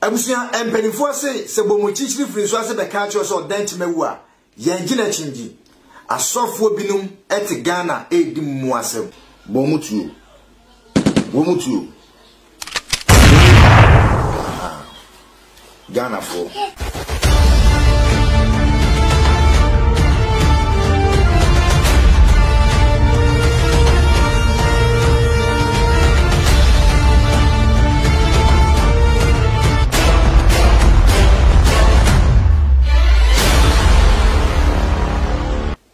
Abusua mpaninfoɔ se sɛ bɔ mu kyikyiri firi nso ase bɛka akyerɛ wo sɛ ɔda nti mawu a, yɛn gye no akyingye. Asɔfoɔ binom te Ghana redi mmoa asɛm. Bɔ mu tuo. Bɔ mu tuo. Ghanafoɔ.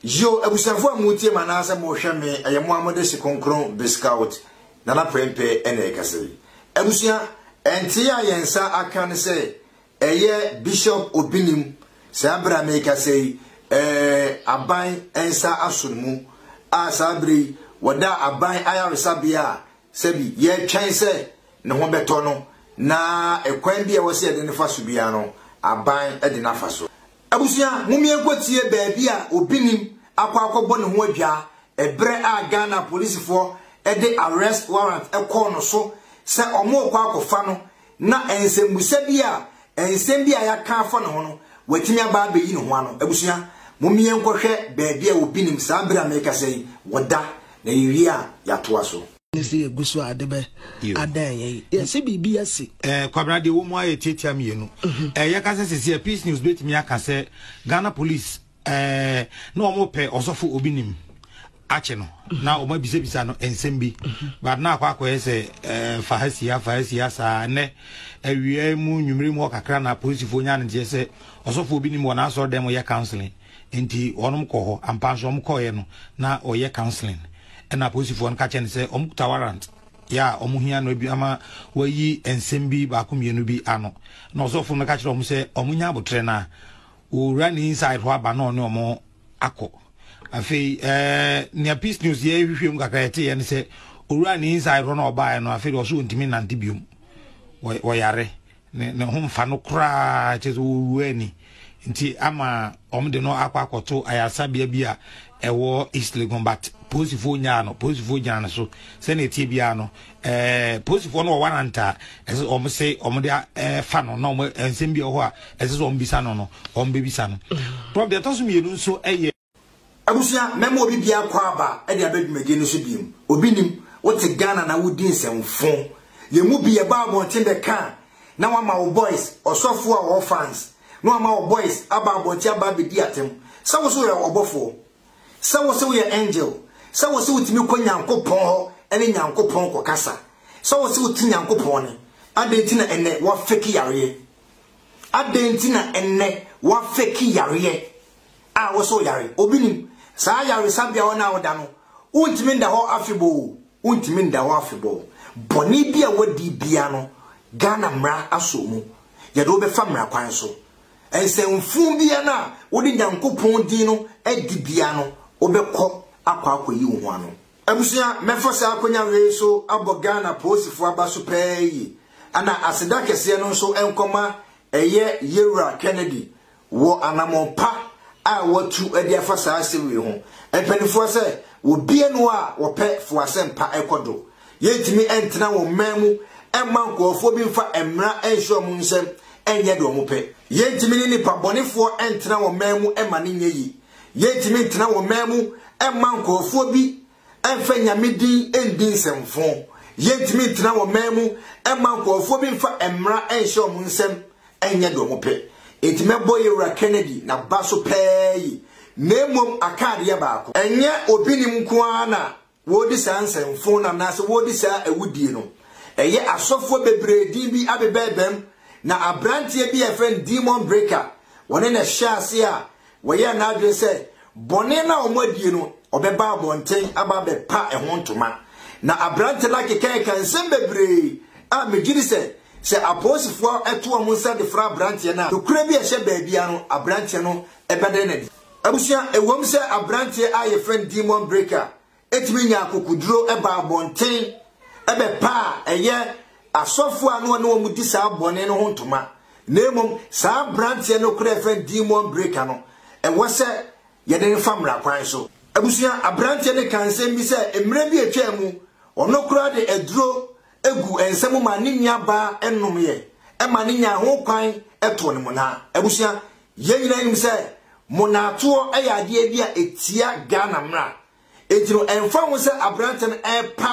Yo, abusuafo a motie ma anaasɛ mohwɛ me, ɛyɛ mo a mode hye kronkron Biscout Nana Prempeh ɛna ɛkasa yi. Abusua, ɛntee a yɛn nsa aka ne sɛ Ɛyɛ Bishop Obinim saa bere a merekasa yi eh, aban nsa aso no mu a saa bere yi wɔda aban ayaresabea a sɛbi yɛtwɛn sɛ ne ho bɛtɔ no na ɛkwan bi a ɛwɔ sɛ yɛde no fa so biara no aban de no afa so. Abusua, mommie nkɔtie baabi a Obinim akɔ akɔbɔ ne ho adwaa ɛberɛ a Ghana polisifoɔ de arrest warrant kɔɔ no so sɛ wɔrekɔ akɔfa no Na nsɛmmisa bi a nsɛm bi a yɛaka afa ne ho no, watumi aba abeyi ne ho ano. Abusua, mom yɛnkɔhwɛ baabi a obi nim saa bere a merekasa yi wɔ da, na yɛwie a yɛatoa so. Ne sɛ yɛgu so a ade bɛ adan yɛn yi. Yɛ sɛ biribi asi. Eh, Kwabena deɛ wɔ mu ayɛ tiatia mmienu. Eh, yɛka sɛ sisi a, Peace News bɛtumi aka sɛ Ghana Police. Ɛɛ na wɔn pɛ ɔsɔfo obi nim akye no na wɔn abisabisa no nsɛm bi but na akɔ akɔyɛ sɛ ɛɛ fa ha si ha fa ha si ha saa nnɛ awia mu nwumire mu ɔkakra na polisifoɔ nya ne nteɛ sɛ ɔsɔfo obi nim wɔn asɔre dɛm yɛ counseling nti wɔn kɔ hɔ ampa nso wɔn kɔɔyɛ no na ɔyɛ counseling ɛna polisifoɔ no ka kyɛ no sɛ wɔn kuta warrant yɛ a wɔn hia no bi ama wɔayi nsɛm bi baako mmienu bi ano na ɔsɔfo no ka kyerɛ wɔn sɛ wɔn nya abotrɛ na Owura ne inside hɔ aba na ɔne ɔmo akɔ. Afei ɛɛ nea peace news yɛ hwehwɛ mu kakra yɛte yɛ ne sɛ owura ne inside hɔ na ɔbaeɛ no afei deɛ ɔso ntumi nante biom. Ɔyare ne ne ho mfa no koraa kyerɛ sɛ ɔwura ani nti ama ɔmo de no akɔ akɔto ayaresabea bi a ɛwɔ East Legon but polisifoɔ nyaa no polisifoɔ gyina ne so sɛnea ɛtie biara no ɛɛ polisifoɔ no wɔ warrant a ɛsɛ wɔn se wɔn de ɛfa no na wɔn nsɛm bi wɔ hɔ a ɛsɛ sɛ wɔn bisa no no wɔn bɛbisa no prof deɛ ɛtɔ so mmienu nso ɛyɛ. abusua mɛma obi biara kɔ aba ɛde abɛ dwumadie no so biem obi nim wote Ghana na wodi nsɛmfo yɛn mu bi yɛba abɔnten bɛka a na wama wo boys ɔsɔfoɔ a ɔwɔ fans na wama wo boys aba abɔnten aba abɛdi atɛm sɛ wo so yɛ ɔbɔfoɔ Sɛ wo se wo yɛ angel, sɛ wo se wo tumi kɔ Nyankopɔn hɔ ne Nyankopɔn kɔ kasa, sɛ wo se wo te Nyankopɔn nne, adɛn nti na ɛnnɛ wa fake yareɛ? Adɛn nti na ɛnnɛ wa fake yareɛ a wo se wo yare? Obi nim saa yaresabea hɔ na wo da no, wo ntumi nda hɔ afebɔɔ, wo ntumi nda hɔ afebɔɔ. Bɔne bi a wadi bia no, Ghana mmara asɔ mu, yɛde wo bɛfa mmara kwan so. Nsɛmfuu biara no a wode Nyankopɔn din no adi biara no, wobɛkɔ akɔ akɔyi wo ho ano. Abusua, mɛfa saa akwanya wei so abɔ Ghana polisifo aba so paa yi, na aseda kɛseɛ no nso nkɔma Ɛyɛ Yewura Kennedy wɔ anammɔn pa a watu de afa saa asɛm wei ho. Mpaninfoɔ sɛ wɔbie no a wɔpɛ fo asɛmpa kɔ do. Yɛntumi ntena wɔn mmaa mu mma nkurɔfoɔ bi mfa mmara nhyɛ wɔn nsam nyɛ deɛ wɔpɛ. Yɛntumi ne nnipa bɔnefoɔ ntena wɔn mmaa mu mma no nyɛ yie. Yɛntumi ntena wɔn mmaa mu mma nkurɔfoɔ bi mfa Nyame din ndi nsɛmfo. Yɛntumi ntena wɔn mmaa mu mma nkurɔfoɔ bi mfa mmara nhyɛ wɔn nsam nyɛ deɛ wɔpɛ. Enti mɛbɔ Yewura Kennedy n'aba so pɛɛ yi, na mmom aka adeɛ baako. Ɛnyɛ Obinim nko ara na Wɔredi saa nsɛmfoo no anaasɛ wɔredi saa awudie no, ɛyɛ asɔfoɔ bebree din bi abebɛɛbam, na abranteɛ bi a yɛfrɛ no Demon Breaker, wɔne no hyɛɛ aseɛ a wɔyɛɛ n'adwene sɛ bɔne no a wɔn adie no wɔbɛba abɔnten aba abɛpa ɛho ntoma. Na abrante no akekaɛka nsɛm bebree a megyedi sɛ sɛ apolisifoɔ to wɔn nsa de fra abranteɛ no a, nokorɛ bi a ɛhyɛ baabiara no abranteɛ no bɛda no adi. Abusua, ɛwom sɛ aberanteɛ a yɛfrɛ no Demon Breaker tumi nyaa akokoduro baa abɔnten bɛpaa ɛyɛ asɔfoɔ a na ɔne wɔn di saa bɔne no ho ntoma, na mmom saa aberanteɛ nokorɛ a yɛfrɛ no Demon Breaker no, ɛwɔ sɛ yɛde no fa mmara kwan so. Abusua, aberanteɛ no kaa nsɛm bi sɛ mmerɛ bi a ɛtwaa mu, ɔno koraa de aduro gu nsa mu maa ne nuabaa nomeeɛ ma no nyaa ho kwan too no monaa. Abusua, yɛn nyinaa nim sɛ monaatoɔ yɛ adeɛ bi a ɛtia Ghana mmara. Enti no, ɛmfa ho sɛ aberanteɛ no repa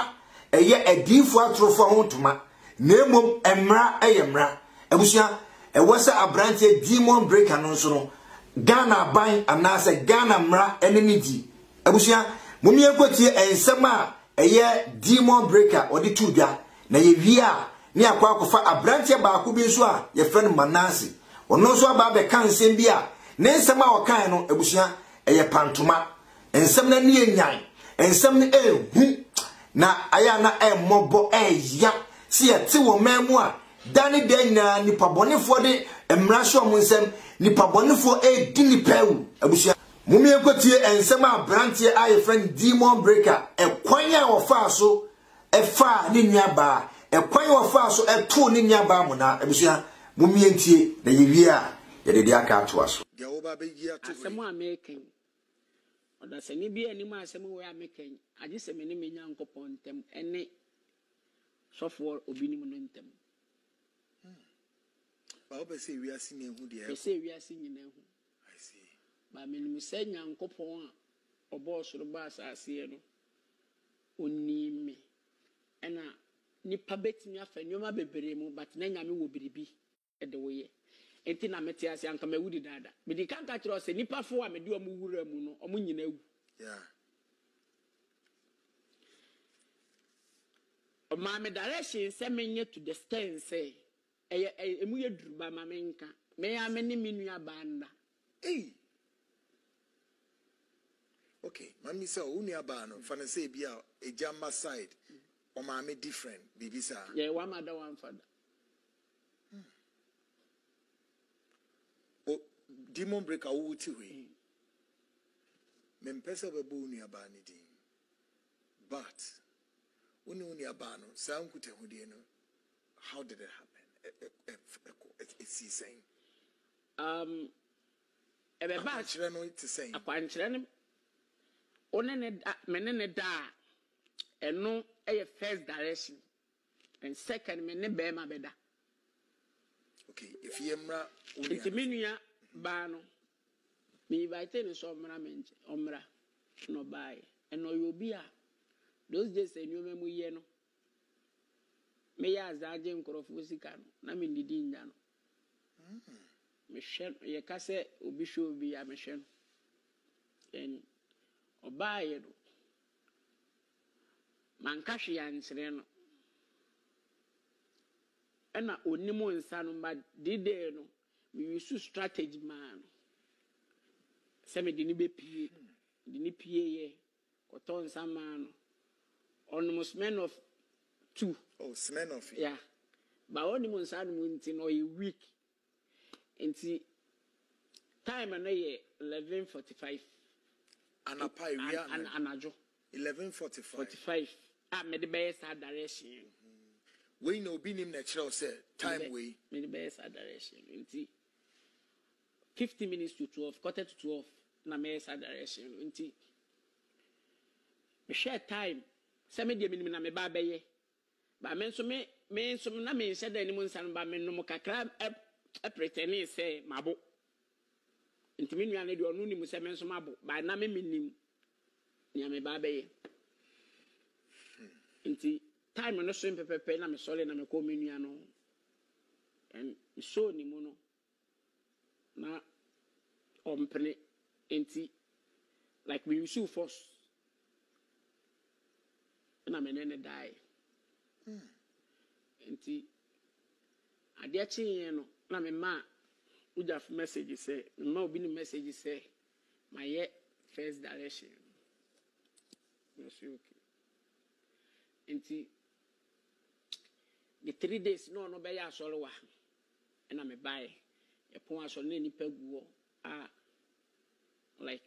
ɛyɛ adiyifoɔ atorofoɔ ho ntoma, na mmom mmara yɛ mmara. Abusua, ɛwɔ sɛ aberanteɛ demon breaker no nso no, Ghana aban anaasɛ Ghana mmara ne no di. Abusua, mom yɛnkɔtie nsɛm a ɛyɛ Demon Breaker ɔde too dwa, na yɛwie a na yɛakɔ akɔfa aberanteɛ baako bi nso a yɛfrɛ no Manase. Ɔno nso aba abɛka nsɛm bi a ne nsɛm a ɔkaeɛ no, abusua, ɛyɛ pantoma. Nsɛm no ani yɛ nyan, nsɛm no ɛyɛ hu, na ayɛ a na ɛmmɔbɔ ɛya sɛ yɛte wɔ man mu a da ne da nyinaa nnipa bɔnefoɔ de mmara hyɛ wɔn nsam, nnipa bɔnefoɔ ɛredi nnipa awu, abusua. Mom yɛnkɔtie nsɛm a abranteɛ a yɛfrɛ no Demon Breaker ɛkwan a ɔfaa so ɛfaa ne nua baa ɛkwan a ɔfaa so ɛtoo ne nua baa mona abusua mom yɛntie na yɛwie a yɛde deɛ aka atoa so. Deɛ woba abɛyi ato hɔ yi. Asɛm a meka yi, ɔdasani biara nnim asɛm wei a meka yi, agye sɛ me ne me Nyankopɔn ntam ne sɔfoɔ obinom no ntam. Hmm. Ba wopɛ sɛ wiase nyinaa hu deɛ ɛrekɔ? Pɛ sɛ wiase nyinaa hu. I see. But menim sɛ Nyankopɔn a ɔbɔɔ soro bɔ asaseɛ no ɔnim me ɛna nipa bɛtumi afa nneɛma bebree mu but na Nyame wɔ biribi. de wo yɛ nti na mete ase anka mawu dedaada medi kan ka kyerɛ wo sɛ nipa foɔ a mede ɔmo wura mu no ɔmo nyina awu yeah ɔmaa me direction sɛ menyɛ to the stand sɛ Ɛyɛ ɛy emu yɛ duru ba ma me nka me ara me ne me nua baa nna. Ei! Ok ma mimisa o, wo nua baa no fa no sɛ ebi a egya mma side, ɔmaame different biribi saa? Yɛyɛ one mother one father. Hmm. O demon breaker wo wo ti hɔ yi, mempɛ sɛ wobɛbɔ wo nua baa no din but wo ne wo nua baa no saa nkutahodie no, How did it happen? Esii sɛn? Um, ɛbɛba. Akwankyerɛ no te sɛn? Akwankyerɛ no, wo ne ne da, me ne ne da a, ɛno ɛyɛ first direction, and second me ne bɛrima bɛda. Okay, efi yɛ mmra wo nua. Nti me nua baa no, me invite ne sɛ ɔmmra me nkyɛn, ɔmmra, na ɔbaeɛ, and ɔyɛ obi a those days nneɛma mu yɛ no. Meyɛ adze agye nkorɔfo sika no, na menndidi nnya no. Mehwɛ no, yɛka sɛ obi hwɛ obi a, mehwɛ no. And ɔbaaeɛ no, manka hwee annkyerɛ no. Ɛna ɔnni mo nsa no, but de day no, me use strategy maa no sɛ mede no bɛpue. Mede no pueeɛ. Kɔtɔ nsa maa no. Ɔnom Smirnoff tu. Oh, Smirnoff yi. Yeah. Ba ɔnim nsa anom nti no ɔyɛ weak. Nti time no yɛ 11:45. Anapa ewia anadwo. Anadwo. 11:45. 45 a mede bɛyɛ saa direction no. Wei na obi nim na ɛkyerɛ wo sɛ time wei. Mede bɛyɛ saa direction no nti Fifteen minutes to twelve, quarter to twelve na mɛyɛ saa direction no nti mehwɛɛ time sɛ me deɛ menim na meba abɛyɛ ba me nso me me nso na menhyɛ da anim nsa no ba menom kakra ɛpretɛnee sɛ mabo nti me nua no deɛ ɔno nim sɛ me nso mabo ba na me menim nea meba abɛyɛ nti time no so mpɛpɛpɛ na mesɔre na mekɔɔ me nua no and mesɔɔ ne mu no na ɔmpene nti like me use force na me ne no dae nti adeɛ kyeeɛ no na me ma wogyafo message sɛ me ma obi ne message sɛ mayɛ first direction na ɔsi okay nti the three days na ɔno bɛyɛ asɔre wa. Ɛna me bae ɛpon asɔ no na nipa gu hɔ a like.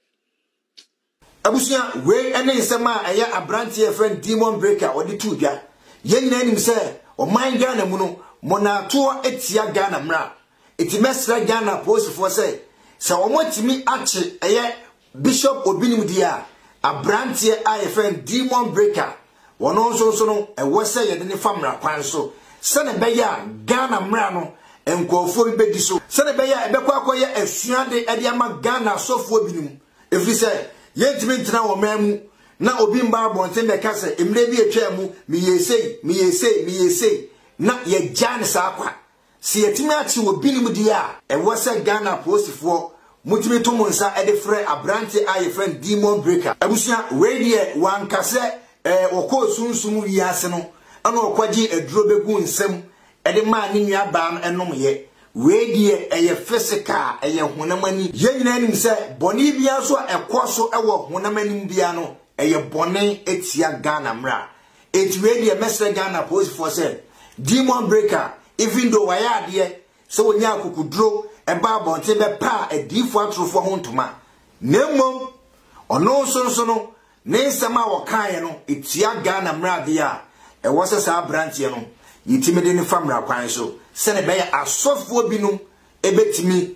Abusua, wei ne nsɛm a ɛyɛ aberanteɛ a yɛfrɛ no Demon Breaker ɔde too dwa. Yɛn nyinaa nim sɛ ɔman Ghana mu no, mmonnaato tia Ghana mmara. Enti mɛsrɛ Ghana apolisifoɔ sɛ, sɛ wɔatumi akye ɛyɛ Bishop Obinim deɛ a, abranteɛ a yɛfrɛ no Demon Breaker, ɔno nso nso no, ɛwɔ sɛ yɛde no fa mmara kwan so, sɛdeɛ ɛbɛyɛ a Ghana mmara no, nkurɔfoɔ bi bɛdi so, sɛdeɛ ɛbɛyɛ a ɛbɛkɔ akɔyɛ asuade de ama Ghana asɔfoɔ binom, ɛfiri sɛ yɛntumi ntena ɔman mu na obi mma abɔnten bɛka sɛ mmerɛ bi atwaa mu meyɛɛ sei, meyɛɛ sei, meyɛɛ sei, na yɛagyaa no saa kwa. Sɛ yɛatumi akye wɔ binom deɛ a, ɛwɔ sɛ Ghana apolisifoɔ motumi to mo nsa de frɛ aberanteɛ a yɛfrɛ no Demon Breaker. Abusua, wei deɛ wanka sɛ ɛɛ ɔkɔɔ sunsum wiase no na ɔkɔgyee aduro bɛguu nsa mu de maa ne nua baa no nomeeɛ. Wei deɛ ɛyɛ physical, ɛyɛ honam ani. Yɛn nyinaa nim sɛ bɔne biara nso a ɛkɔɔso wɔ honam anim biara no, ɛyɛ bɔne tia Ghana mmra. Enti wei deɛ mɛsrɛ Ghana apolisifoɔ sɛ Demon Breaker even though wayɛ adeɛ sɛ ɔnyaa akokuduro baa abɔnten bɛpaa adiyifoɔ atorofoɔ ho ntoma na mmom ɔno nso nso no ne nsɛm a ɔkaeɛ no ɛtua Ghana mmara adeɛ a ɛwɔ sɛ saa abranteɛ no yɛtumi de no fa mmara kwan so sɛdeɛ ɛbɛyɛ asɔfoɔ binom ɛbɛtumi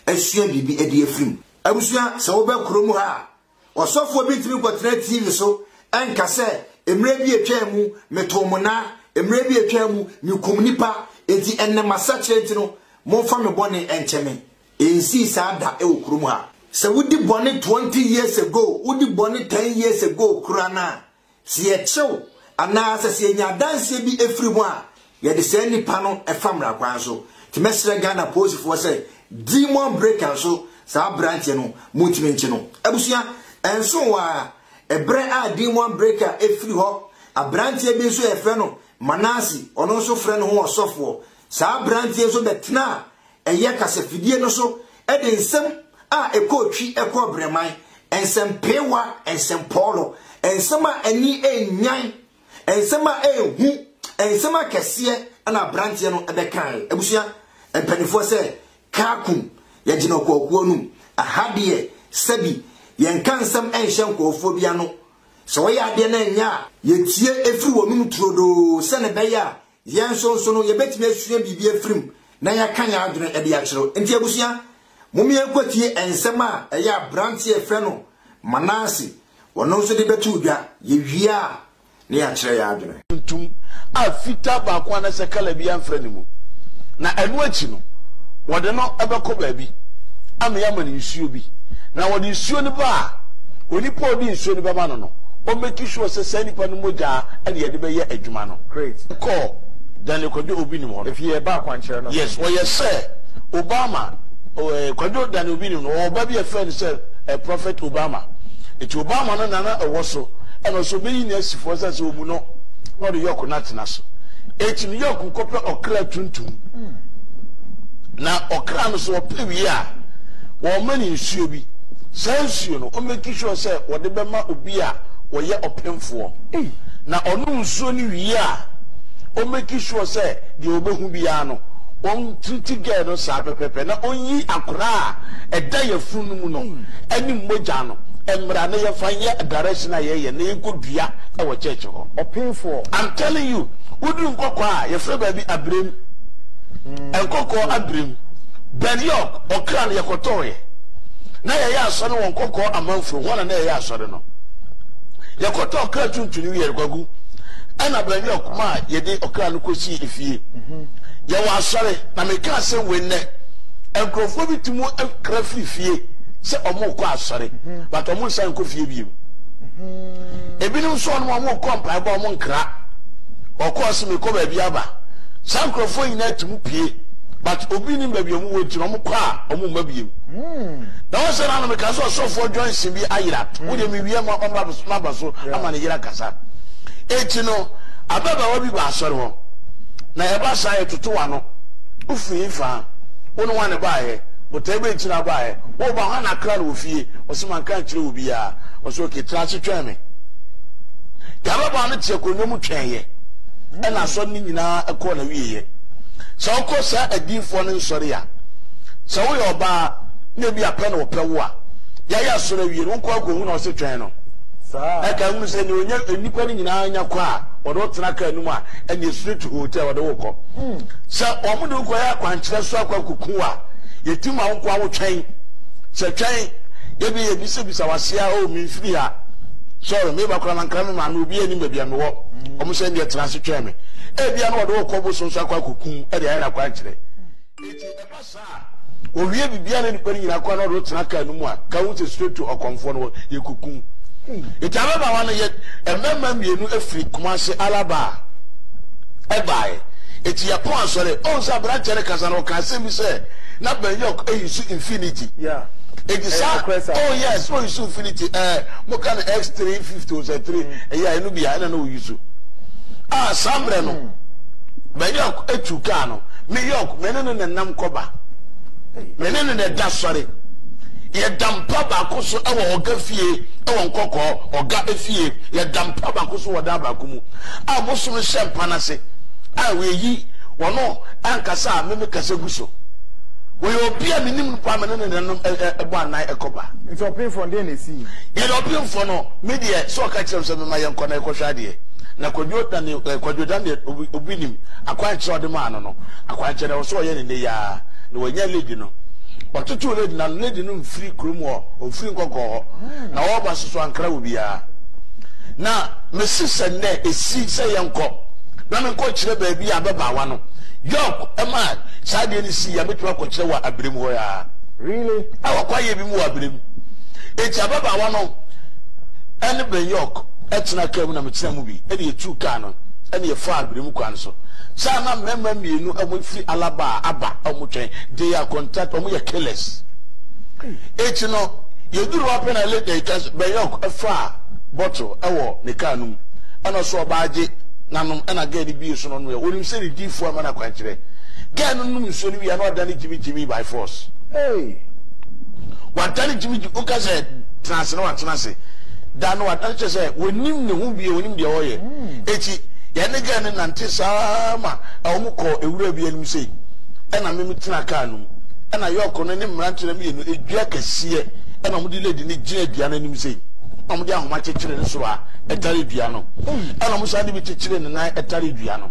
asua biribi de afiri mu. Abusua sɛ wobɛ kurom ha a Ɔsɔfoɔ bi ntumi nkɔtena TV so nka sɛ, mmerɛ bi a ɛtwaa mu, metoo mo nan, mmerɛ bi a ɛtwaa mu, mekumm nnipa, enti ɛnnɛ masakyera nti no, momfa me bɔne nkyɛ me. Ɛnsii saa da wɔ kurom ha. Sɛ wodi bɔne 20 years ago, wodi bɔne 10 years ago koraa no a, Sɛ yɛkyew anaasɛ sɛ yɛnya adanseɛ bi firi ho a, yɛde saa nnipa no fa mmara kwan so. Nti mɛsrɛ Ghana polisifoɔ sɛ demon breaker nso saa aberanteɛ no montumi nkye no. Abusua, ɛnso hɔ ara, ɛberɛ a demon breaker firi hɔ, aberanteɛ bi nso a yɛfrɛ no Manase, ɔno nso frɛ ne ho ɔsɔfoɔ. Saa aberanteɛ nso bɛtenaa ɛyɛ kasafidie no so de nsɛm a ɛkɔɔ twi, ɛkɔɔ brɛman, nsɛmpeewa, nsɛmpɔɔlɔ, nsɛm a ani nnyan, nsɛm a ɛhu, nsɛm akɛseɛ na aberanteɛ no bɛkae. Abusua mpanimfoɔ sɛ kaakum, yɛgyina ɔkɔɔkuo no mu. Aha deɛ sɛbi yɛnka nsɛm nhyɛ nkɔɔfoɔ bi ano. Sɛ wɔyɛ adeɛ no ɛnyɛ a, yɛtie ɛfiri wɔnom turodoo sɛne ɛbɛyɛ a Yɛn nso nso no, yɛbɛtumi asua biribi afiri mu na yɛaka yɛn adwene de akyerɛ. Enti abusua, mom yɛnkɔtie nsɛm a ɛyɛ aberanteɛ a yɛfrɛ no Manase, ɔno nso de bɛto dwa. Yɛwie a, na yɛakyerɛ yɛn adwene. tuntum a fitaa baako anaasɛ kala biara mfra ne mu, na ɛno akyi no, wɔde no bɛkɔ baabi ama yɛama no nsuo bi, na wɔde nsuo no ba a, onipa a ɔde nsuo no bɛma no no, ɔmmɛki sure sɛ saa nipa no mogya na yɛde bɛyɛ adwuma no. Great. Kɔ Daniel Kwadwo Obi Nim hɔ no. Ɛfie ɛba akwankyerɛ no so. Yes ɔyɛ sɛ Obama eh, Kwadwo Daniel Obi Nim no ɔwɔ ba bi a ɛfrɛ no sɛ eh, Prophet Obama. Eti Obama no na na ɛwɔ so ɛna ɔsɛ ɔbɛyi no asi fo sɛ sɛ ɔmu no na ɔde yɔk no atena so. Eti no yɔk kɔpɛ ɔkra tuntum. Hmm. Na ɔkra no so ɔpɛ wie a wɔma ne nsuo bi. Saa nsuo no ɔmɛki sure sɛ wɔde bɛma obi a wɔyɛ ɔpemfoɔ. Na ɔnom nsuo no wie a, ɔmmake sure sɛ deɛ ɔbɛhu biara no, ɔntreati girl no saa pɛpɛpɛ na ɔnyi akora a ɛda yafunu no mu no ne mmogya no mmra na yɛmfa nyɛ direction a yɛyɛ na yɛnkɔ dua wɔ church hɔ. Ɔpemfoɔ. I'm telling you, woduru nkɔkɔɔ a, yɛfrɛ baabi Abirem. Nkɔkɔɔ Abirem. Ben York, ɔkra no yɛkɔtɔɔeɛ. Na yɛyɛ asɔre wɔ nkɔkɔɔ amanfro, hɔ na na yɛyɛ asɔre no. Yɛkɔtɔɔ kra tuntum no wiɛ no, Kwaku, ɛna baabi a ɔkoma a yɛde ɔkra no kɔsii efie. Yɛwɔ asɔre, na meka asɛm wei nnɛ. Nkurɔfoɔ bi tumi kra firi fie sɛ wɔrekɔ asɔre, but wɔnsan nkɔ fie bio. Ebinom nso wɔn a wɔrekɔ mpaebɔ wɔn nkra. Wɔkɔɔ se mekɔ baabi aba. Saa nkurɔfoɔ nyinaa tumi pie, but obi nim baabi a wɔwɔ nti na wɔkɔ a wɔmma bio. Na wɔn sɛ na meka sɛ ɔsɔfoɔ Johnson bi ayera. Wodeɛ awia ma ɔmma bs maba so ama ne yere akasa. Enti no, ababaawa bi ba asɔre hɔ, na ɛba saa a, yɛtotow ano. Wufi he fa? Wo ne hwan na ɛbaeɛ? Botae bɛn nti na wobaeɛ? Woreba hwan na akra no wɔ fie? Ɔse, Manka ankyerɛ obiaa. Ɔse, Ok, tena ase twɛn me. Nti ababaawa no te akonnwa mu twɛeɛ, ɛna asɔre no nyinaa kɔɔ n'awieeɛ. Sɛ wokɔ saa adiyifoɔ no nsɔre a, sɛ woyɛ ɔbaa na ebia pɛ na wɔpɛ wo a, Yɛayɛ asɔre awie no, wonkɔ akohu no a ɔse twɛn no. Na ka hunu sɛ nea ɔnya nnipa no nyinaa nya kɔ a wɔde wo tena kaa no mu a ɛne street hotel wɔde wo kɔ. Hmm. Sɛ wɔn de wo kɔyɛ akwankyerɛ so akɔ akoku a yɛti ma wo nko a wotwɛn. Sɛ twɛn yɛbi yɛ bisabisa wase a o oh, memfiri ha sɔre meba kora mankra me maame obi anim baabi a mewɔ hmm. wɔn sɛ ndeɛ tena ase twɛn me ebia no wɔde wo kɔ bosom so akɔ akoku ɛde ayɛ no akwankyerɛ. Hmm. Saa a, owie biribiara ne nnipa no nyinaa kɔ a na ɔde wo tena kaa no mu a, ka hu sɛ straight to ɔkɔmfoɔ no hɔ, yɛkɔku wo. Nti ababaawa no yɛ mmarima mmienu firi Kumasi Alaba a ɛbaeɛ. Nti yɛpɔn asɔre. Ɔhu sɛ aberanteɛ no kasa no, ɔka asɛm bi sɛ, na Banyok ayi so infinity. Nti saa, oh yes, na ɔyi so infinity. Eh, moka no X350 o sɛ 3, ɛyɛ a ɛno bia ɛna na ɔyi so. Ah, saa mmerɛ no, Banyok atu kaa no. New York, me ne no na ɛnam kɔba. Me ne no na ɛda sɔre. Yɛda mpa baako so wɔ ɔga fie wɔ nkɔkɔɔ, ɔga fie. Yɛda mpa baako so wɔ dan baako mu a mosom hyɛ mpa no ase a wɔayi wɔn ankasa a meme kasa gu so. Wɔyɛ obi a menim no paa, me ne no na ɛnam bɔ anan kɔba. Nti ɔpemfoɔ no deɛ na ɛsi yi? Yɛde ɔpemfoɔ no, me deɛ sɛ ɔka kyerɛ m sɛ mema yɛnkɔ na yɛkɔhwɛ adeɛ. Na Kwadwo na ne eh, Kwadwo da ne obi, obi nim akwankyerɛ a ɔde maa no no. Akwankyerɛ na ɛwɔ sɛ ɔyɛ ne nnɛ yia na wanya lady no. Ɔtotow lady na no lady no mfiri kurom hɔ, ɔmfiri nkɔkɔɔ hɔ. Na ɔreba soso ankra wɔ biara. Na mesi sɛ nnɛ esi sɛ yɛnkɔ na menkɔ kyerɛ baabi a ababaawa no York ɛma saa deɛ no si yɛ metumi akɔkyerɛ wɔ abirem hɔ yaa. Really? Ɛwɔ kwaeɛ bi mu wɔ abirem. Eti ababaawa no ɛne Ben York. tenaa kaa mu na metenaa mu bi na yɛtuu kaa no na yɛfaa Birem kwan so. Saa na mmarima mmienu a wɔfiri Alaba a aba a wɔtwɛn de yɛ akontat, wɔyɛ killers. Akyi no, yɛduru hɔ pɛ na late na yɛka sɛ Bɛnyɔk faa bottle wɔ ne kaa no mu ɛna ɔsɛ ɔba agye nanom ɛna gɛɛ no bie so na ɔnomeɛ. Onim sɛ ne diifoɔ ama no akwankyerɛ. Gɛɛ no nom nsuo no wie a na ɔdane gyimigyimi by force. Hey! Wadane gyimigyimi, woka sɛ tena ase na watena ase. da no ada no kyerɛ sɛ wɔnnim ne ho bio, wɔnnim deɛ ɔyɛ. Eti yɛn ne gɛɛ no nante saa ma wɔn kɔɔ ewura bi anim sei, ɛna me me tena kaa no mu, ɛna yɔɔko no ne mmerante no mmienu edua kɛseɛ, ɛna wɔn de lady no gyina dua no anim sei, ɛna wɔn de ahoma kyekyere ne soro a ɛtare dua no, ɛna wɔn san de bi kyekyere ne nan ɛtare dua no,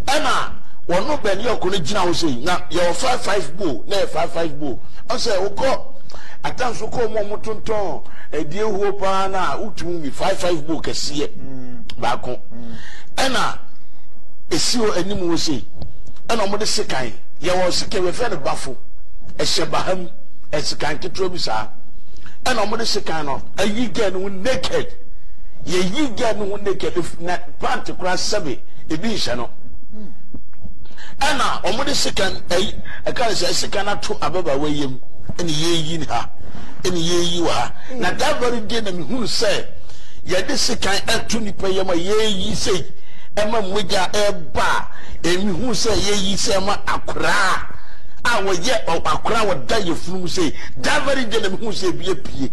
ɛna wɔn no bɛn yɔɔko no gyina hɔ sei, na yɛwɔ five five bowl, na yɛ five five bowl, ɔsɛ wokɔ. Atan so kɔ ɔmo a ɔmo tontɔn ɛdeɛ huo paa no a wotumi wi five five bowl kɛseɛ baako ɛna esi hɔ anim hɔ sei ɛna ɔmo de sekan yɛwɔ sekan yɛfrɛ no bafo ɛhyɛ baha mu ɛsekan ketewa bi saa ɛna ɔmo de sekan no ayi gɛn no naked yɛyi gɛn no naked na pant koraa sɛbe ebi nhyɛ no ɛna ɔmo de sekan ɛyi ɛka ne sɛ sekan ato ababaawa yam. na yɛreyi no ha, na yɛreyi wɔ ha. Na that very day na mehunu sɛ yɛde sekan ato nnipa yam a yɛreyi sɛ ɛma mogya ɛreba a ɛmehunu sɛ yɛreyi sɛ ɛma akoraa a wɔyɛ akoraa wɔda yɛfunu mu sɛ that very day na mehunu sɛ ebi apue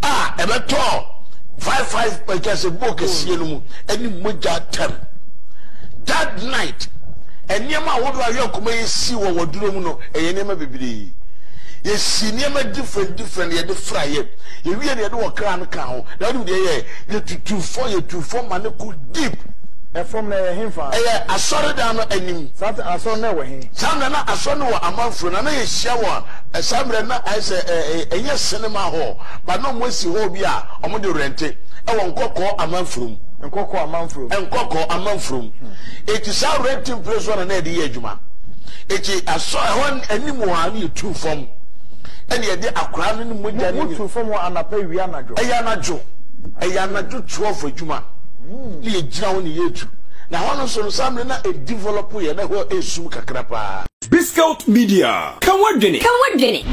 a ɛbɛtɔɔ five five ɛkyɛ sɛ book ɛsie no mu ɛne mogya tɛm that night Nneɛma ahodoɔ a yɛn koma yɛ sii wɔ wɔ duro mu no ɛyɛ nneɛma bebree. Yɛ sii nneɛma different different na yɛde fra yɛ. Yɛ wie no yɛde wɔ kra no kaa ho. Na wonim deɛ yɛ yɛɛ? Yɛ tutuu fɔ, yɛ tuu fɔ ma no ko deep. Ɛfam no ɛyɛ henfa? Ɛyɛ asɔredan no anim. Saa te asɔre no ɛwɔ he? Saa mmerɛ na asɔre no wɔ Amanfro na na yɛ hyia wɔ saa mmerɛ no na ayɛ sɛ ɛnyɛ cinema hall but na ɔmo asi hall bi a ɔmo de rente ɛwɔ Nkɔkɔɔ Amanfro mu. Nkɔkɔɔ Amanfro. Nkɔkɔɔ Amanfro mu. Eti saa renting place hɔ na na yɛde yɛ adwuma. Eti asɔ ɛhɔ anim hɔ a na yɛtu fam ɛna yɛde akwadaa no ne mogya no nyina. Motu fam hɔ anapa awia anadwo? Ɛyɛ anadwo. Ɛyɛ anadwo twelve adwuma na yɛgyina hɔ na yɛtu. Na hɔ no nso no saa mmerɛ no na ɛdevelop yɛ na hɔ ɛsum kakra paa. Biscout Media, Ka W'adwene! Ka W'adwene!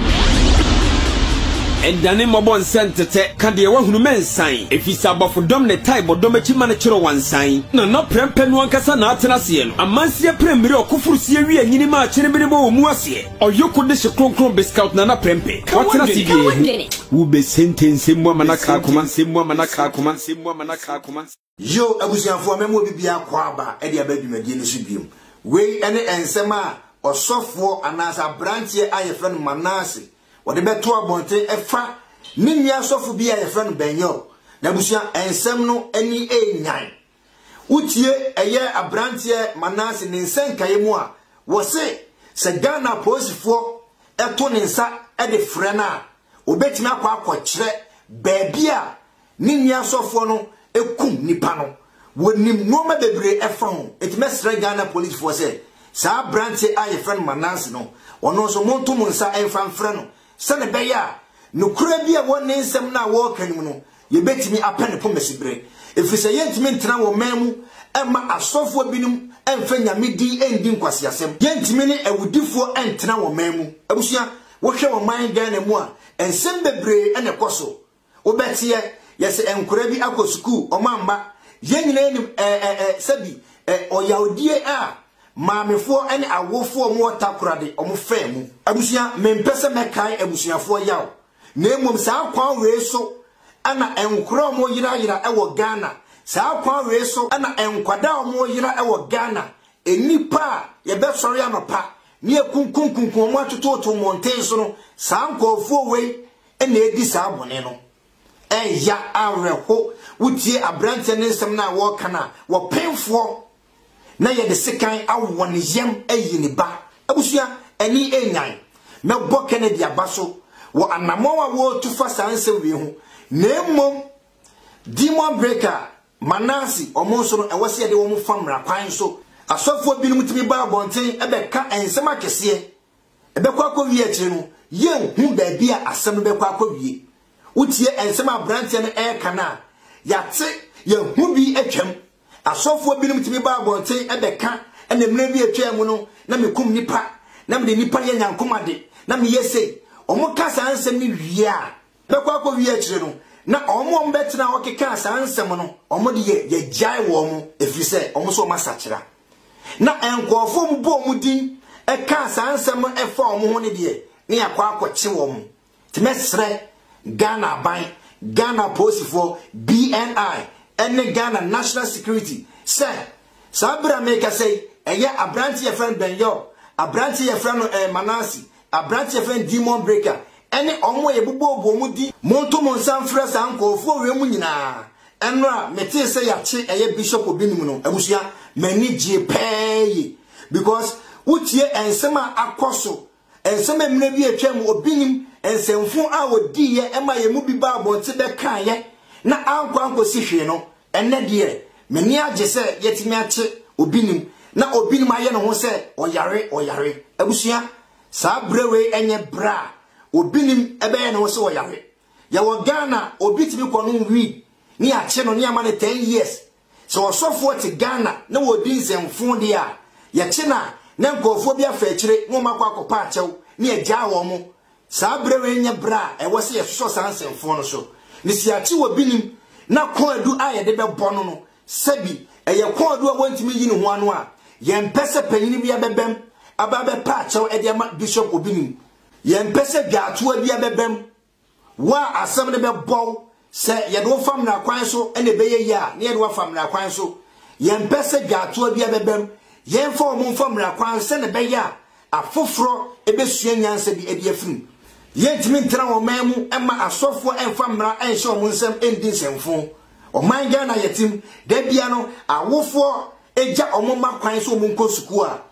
Ɛndane mmɔbɔ nsɛ ntetɛ, ka deɛ wahunu mɛ nsan, ɛfisɛ abɔfo dɔm ne tae bɔ dɔm akyi ma no kyerɛ wansan. Na na prɛmpɛ no ankasa na atena aseɛ no, amanseɛ prɛmmire ɔkoforoseɛ wie anyini ma akyenebene bɔ wɔ mu aseɛ, ɔyoko de hye kronkron Biscout Nana prɛmpɛ, watena ase biara hu. Wo bɛ sentɛnse mmoa ma na kaa koma. Yiw, abusuafo, mɛma obi biara kɔ aba de aba dwumadi no so bio. Wei ne nsɛm a ɔsɔfoɔ anaasɛ aberanteɛ a yɛfrɛ no Manase wɔde bɛto abɔnten ɛfa ne nua sɔfo bi a yɛfrɛ no Ben-Yo. Na abusua, nsɛm no ani renyan. Wotie ɛyɛ aberanteɛ Manase ne nsɛnkaeɛ mu a, wɔse sɛ Ghana apolisifoɔ to ne nsa de frɛ no a, ɔbɛtumi akɔ akɔkyerɛ baabi a Ne nua asɔfoɔ no kum nipa no. Wɔnim nnoɔma bebree ɛfa ho. Enti mɛsrɛ Ghana polisfoɔ sɛ saa abranteɛ a yɛfrɛ no Mananse no, ɔno nso monto mo nsa mfa mfrɛ no sɛdeɛ ɛbɛyɛ a nokorɛ bi a ɛwɔ ne nsɛm no a ɔreka no mu no, yɛbɛtumi apɛ ne koma siberɛ. Ɛfiri sɛ yɛntumi ntena wɔ man mu mma asɔfoɔ binom mfa Nyame din ndi nkwaseasɛm. Yɛntumi ne awudifoɔ ntena wɔ man mu. Abusua, wohwɛ wɔ man Ghana mu a, nsɛm bebree na ɛkɔ so. Wo bɛteɛ, yɛse ɛnkora bi akɔ sukuu, ɔmo amma. Yɛn nyinaa nim ɛɛ ɛɛ ɛɛ sɛbi ɛɛ ɔyawdie a maamefoɔ ne awofoɔ ɔmo wɔ Takorade ɔmo faa mu. Abusua, mempɛ sɛ mɛkae abusuafoɔ yaw, na mmom saa kwan wei so na nkora ɔmo yera yera wɔ Ghana, saa kwan wei so na nkwadaa ɔmo yera wɔ Ghana, nnipa a yɛbɛsɔre anɔpa ne yɛkunkum kunkum ɔmo atototo mmɔnten so no, saa nkɔɔfoɔ wei na edi saa bɔne no. Ɛyɛ awerɛho wotie aberanteɛ no nsɛm no a wɔreka no a, wɔpemfoɔ na yɛde sekan awɔ ne yam ayi ne ba. Abusua, ani nnyan. Mɛbɔ Kennedy aba so wɔ anammɔn a wɔretu fa saa nsɛm wei ho, na mmom Demon Breaker, Manasse, wɔn nso no, ɛwɔ sɛ yɛde wɔn fa mmara kwan so. Asɔfoɔ binom tumi ba abɔnten bɛka nsɛm akɛseɛ. Ɛbɛkɔ akɔwie akyire no, yɛnhu baabi a asɛm no bɛkɔ akɔwie. Wotie nsɛm a aberanteɛ no reka no a, yɛate, yɛahu bi atwam. Asɔfoɔ binom tumi ba abɔnten bɛka na mmerɛ bi a ɛtwaa mu no, na mekum nnipa, na mede nnipa yɛ nyankomade, na meyɛ sei. Wɔka saa nsɛm no wie a, ɛbɛkɔ akɔwie akyire no, na wɔn a wɔbɛtenaa hɔ kekaa saa nsɛm no, wɔde yɛ yɛgyae wɔn, ɛfiri sɛ wɔn nso wɔasakyera. Na nkurɔfoɔ mu bɔɔ wɔn din kaa saa nsɛm no ɛfa wɔn ho no deɛ, ne yɛakɔ akɔkye wɔn. Nti mɛsrɛ Ghana aban, Ghana apolisifoɔ, BNI, ɛne Ghana National Security sɛ, saa berɛ a merekasa yi, ɛyɛ aberanteɛ yɛfrɛ no Ben Yol, aberanteɛ yɛfrɛ no eh, Manase, aberanteɛ yɛfrɛ no Demon Breaker, ɛne wɔn a yɛbobɔɔbɔ wɔn din. Monto mo nsa mfrɛ saa nkurɔfoɔ wei mu nyinaa Ɛnora a me tee sɛ yakye ɛyɛ bishop obi nom no abusua m'ani gyee pɛɛ ye because wo tie ɛnsɛm a akɔ so ɛnsɛm a mmerɛ bi atwa mu obi nim nsɛmfo a ɔdii yɛ ɛma yɛ mu bi baa abɔnte bɛ kaa yɛ na ankɔ ankɔ si hwee no ɛnɛ deɛ m'ani agye sɛ yatumi akye obi nim na obi nim ayɛ ne ho sɛ ɔyare ɔyare abusua saa berɛ wei ɛnyɛ berɛ a obi nim ɛbɛyɛ ne ho sɛ ɔyare Yɛwɔ Ghana a obi tumi kɔ nom weed ne yɛakye no ne yɛama no ten years. Sɛ ɔsɔfoɔ te Ghana na ɔredi nsɛmfoo deɛ a, yɛkye no a na nkorɔfoɔ bi afa akyire na wɔakɔ akɔpa akyɛw na yɛagyaa wɔn. Saa berɛ wei nyɛ berɛ a ɛwɔ sɛ yɛsosɔ saa nsɛmfoo no so. Ne sɛ yɛakye wɔ Binim na kɔɔdu a yɛde bɛbɔ no no sɛbi ɛyɛ kɔɔdu a wɔntumi nyi ne ho ano a, yɛmpɛ sɛ panyini biara bɛbam aba abɛpa akyɛw de ama Bishop wɔ Binim. Yɛmpɛ sɛ dwaatoa biara bɛba mu. Wo a asɛm no bɛbɔ wo, sɛ yɛde wo fa mmara kwan so na ɛbɛyɛ yie a, na yɛde wo afa mmara kwan so. Yɛmpɛ sɛ dwaatoa biara bɛba mu. Yɛmfa wɔn mfa mmara kwan sɛnea ɛbɛyɛ a afoforɔ bɛsua nyansa bi de afiri mu. Yɛntumi ntena wɔn man mu mma asɔfoɔ mfa mmara nhyɛ wɔn nsam ndi nsɛmfo. Ɔman Ghana a yɛte mu, da biara no awofoɔ gya wɔn mma kwan sɛ wɔnkɔ sukuu a,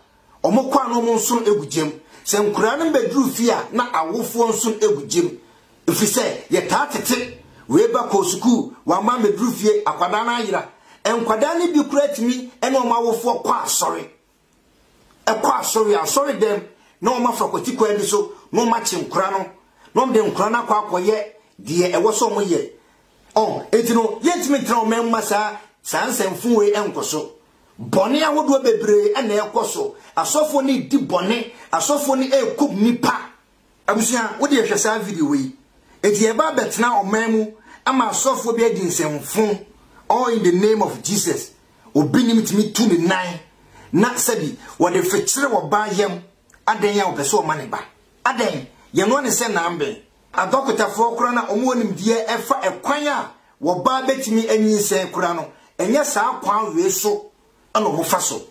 Wɔkɔ a na wɔnsono gu gya mu. Sɛ nkwadaa no bɛduru fie a, na awofoɔ nsono gu gya mu. Ɛfiri sɛ, yɛtaa tete wei ba kɔɔ sukuu, wamma ammɛduru fie, akwadaa no ayera. Nkwadaa no bi koraa tumi ne wɔn awofoɔ kɔ asɔre. Ɛkɔ asɔre a, asɔredɛm na wɔafa kwati kwan bi so na wɔakye nkwadaa no, na wɔde nkwadaa no akɔ akɔyɛ deɛ ɛwɔ sɛ wɔyɛ. Ɔn, enti no, yɛntumi ntena wɔn mma saa saa nsɛmfo wei nkɔ so. Bɔne ahodoɔ bebree na ɛrekɔ so. Asɔfoɔ no redi bɔne. Asɔfoɔ no rekum nnipa. Abusua, wo deɛ hwɛ saa video yi. Enti yɛreba abɛtena ɔman mu ama asɔfoɔ bi adi nsɛmfo all in the name of Jesus. Obi nim tumi tu ne nan na sɛbi wɔde fekyere ɔbaa yam. Adɛn a ɔpɛ sɛ ɔma ne ba? Adɛn? Yɛnoa ne sɛ nanben. Adɔkotafoɔ kora na wɔn wɔ nimdeɛ ɛfa ɛkwan a wɔbaa bɛtumi anyinsɛn kora no, ɛnyɛ saa kwan wee so na wɔn fa so.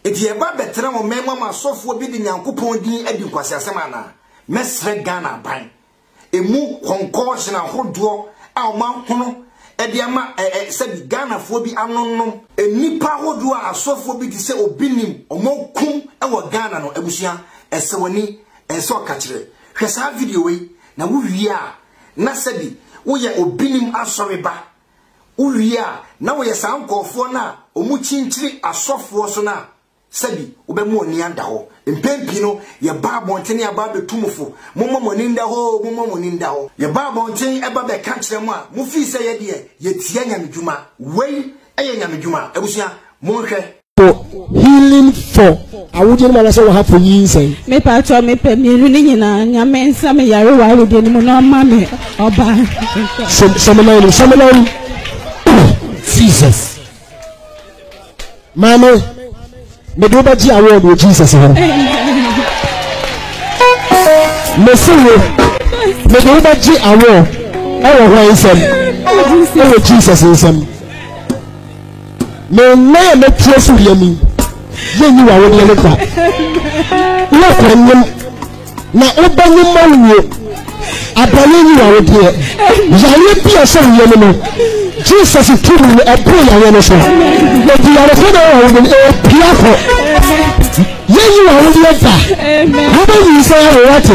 Nti yɛba bɛtena wɔn mɛn mu ama asɔfoɔ bi de Nyankopɔn din adi nkwaseasɛm anaa? Mɛsrɛ Ghana aban, ɛmu kɔnkɔɔhyen ahodoɔ a wɔn ahono de ama ɛ ɛ sɛbi Ghanafoɔ bi anonom, nnipa ahodoɔ a asɔfoɔ bi te sɛ obi nim wɔn akum wɔ Ghana no, abusua, ɛsɛ w'ani, ɛnsɛ ɔkakyerɛ, Hwɛ saa video wei na wo wie a na sɛbi wo yɛ obinim asɔre ba. Wo wie a na wo yɛ saa nkɔɔfoɔ no a ɔmu kyinkyiri asɔfoɔ so no a sɛbi wo bɛ mo ani ada hɔ. Mpɛn pii no yɛ ba abɔntene aba abɛ tu mo fo. Mo mɔ mo ani nda hɔ oo, mo mɔ mo ani nda hɔ. Yɛ ba abɔntene ɛba bɛ ka kyerɛ mo a mo fii sɛ yɛ deɛ yɛ tia nyamedwuma. Wei yɛ nyamedwuma. Abusua mo nhwɛ. for healing for awodeɛ no mu anaasɛ wɔha for nyinsɛn. mepa atɔ mepɛ mmienu no nyinaa nyame nsa me yare wɔ awodeɛ no mu na ɔma me ɔbaa sɛmenan no sɛmenan jesus maame mede wobɛgye award wɔ jesus hɔ mese wo mede wobɛgye award ɛwɔ hwan nsɛm ɛwɔ jesus nsɛm Me nna a mɛtua so yɛ ni yɛnyi w'awodeɛ no kwa wokɔ nyem na wobɛnyem ma wuo abrane nyi w'awodeɛ yareɛ bi a sɛ woyɛ no no jesus tumi no ɛboro yareɛ no so ɛdi yarefo na ɛwɔ wo no ɛpia kɔ yɛyi wɔ wo deɛ da wobɛyi sɛ yɛ wowɔ te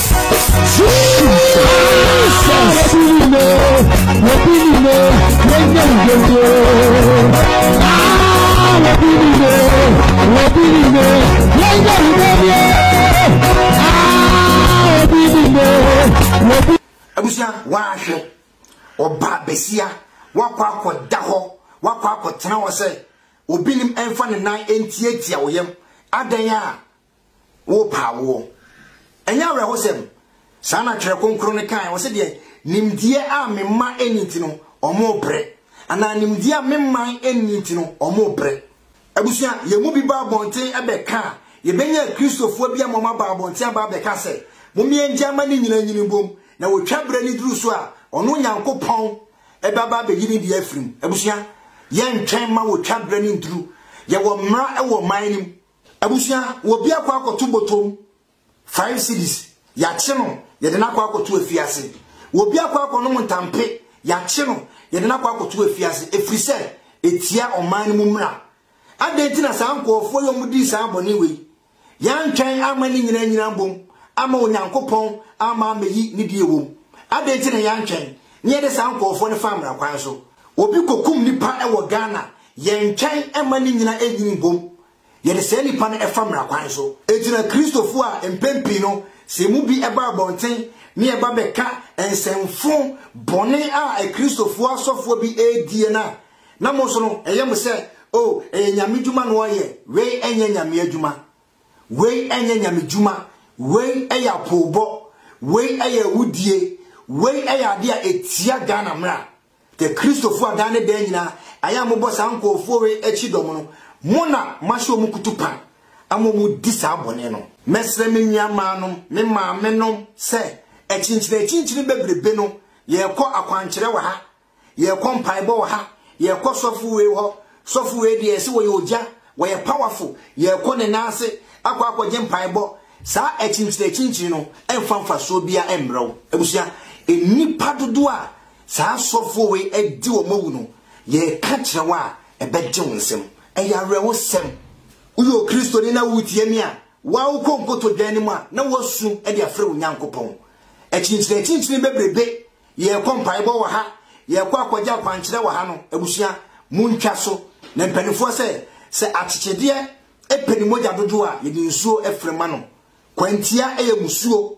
abusua wahwɛ ɔbaa besia wakɔ akɔda hɔ wakɔ akɔtena hɔ sɛ obinim ɛmfa ne nan ntiatia wo yam adɛn a Wopa awoɔ. Ɛnyɛ awerɛhosɛm? Saa na Twerɛ Kronkron no kaeɛ, ɔse deɛ, Nimdeɛ a me mma nni nti no, wɔrebrɛ. Anaa nimdeɛ a me man nni nti no, wɔrebrɛ. Abusua, yɛn mu bi ba abɔnten bɛka a, yɛbɛnya Kristofoɔ bi ama wɔaba abɔnten aba abɛka sɛ, Mommeɛ ngya mma ne nyina nyini mbom, na wɔtwa berɛ no duru so a, ɔno Nyankopɔn bɛba abɛyi ne deɛ afiri mu. Abusua, yɛntwɛn mma wɔtwa berɛ no nduru. Yɛwɔ mmara wɔ ɔman no mu. Abusua, wɔ bi akɔ akɔto botom five cedis, yɛakye no, yɛde no akɔ akɔto afiase. Wɔ bi akɔ akɔnom ntampe, yɛakye no, yɛde no akɔ akɔto afiase, ɛfiri sɛ ɛtia ɔman no mu mmara. Adɛn nti na saa nkurɔfoɔ yi a wɔdii saa bɔne wei, yɛantwɛn amma ne nyinaa anyina mbom amma Onyankopɔn amma ammɛyi ne deɛ ɛwom? Adɛn nti na yɛantwɛn na yɛde saa nkurɔfoɔ no faa mmara kwan so? Obi kɔkum nipa wɔ Ghana, Yɛntwɛn mma ne nyina nnyini mbom yɛde saa nipa no fa mmara kwan so. Egyina Kristofo a mpɛn pii no sɛ emu bi ba abɔnten ne ɛba bɛka nsɛmfo bɔne a Kristofo asɔfoɔ bi ɛredie no a, na mo nso no ɛyɛ mo sɛ, Oh, ɛyɛ Nyame dwuma na ɔreyɛ, wei ɛnyɛ Nyame adwuma, wei ɛnyɛ Nyame dwuma, wei ɛyɛ apoobɔ, wei ɛyɛ awudie, wei ɛyɛ adeɛ a ɛtia Ghana mmara. Kɛ Kristofo a daa ne daa nyinaa ayɛ a mobɔ saa nkurɔfoɔ wei akyi dɔm no, mo na moahyɛ wɔn kutupa ama wɔdi saa bɔne no. Mɛsrɛ me nuammaanom, me maamenom, sɛ akyinkyinakyinkyini bebrebe no, yɛrekɔ akwankyerɛ wɔ ha, yɛrekɔ mpaebɔ wɔ ha, yɛrekɔ sɔfo wei hɔ, sɔfo wei deɛ ɛse wɔyɛ ogya, wɔyɛ powerful, yɛrekɔ ne nan ase akɔ akɔgye mpaebɔ, saa akyinkyinakyinkyini no mfa mfasoɔ biara mmrɛ wo. Abusua, nnipa dodoɔ a Saa asɔfoɔ wei adi wɔn awu no, yɛreka kyerɛ wo a, ɛbɛgye wo nsam. Ɛyɛ awerɛhosɛm. Woyɛ Okristoni na wo tiani a, wo ara wokɔ nkotodwe no mu a, na woasu de afrɛ wo Nyankopɔn. Akyinkyinakyinkyini bebrebe, yɛrekɔ mpaebɔ wɔ ha, yɛrekɔ akɔgye akwankyerɛ wɔ ha no, abusua, montwa so. Na mpaninfoɔ sɛ, sɛ akyekyedeɛ pɛ ne mogya dodoɔ a, yɛde nsuo frɛ ma no. Kwantia yɛ mmusuo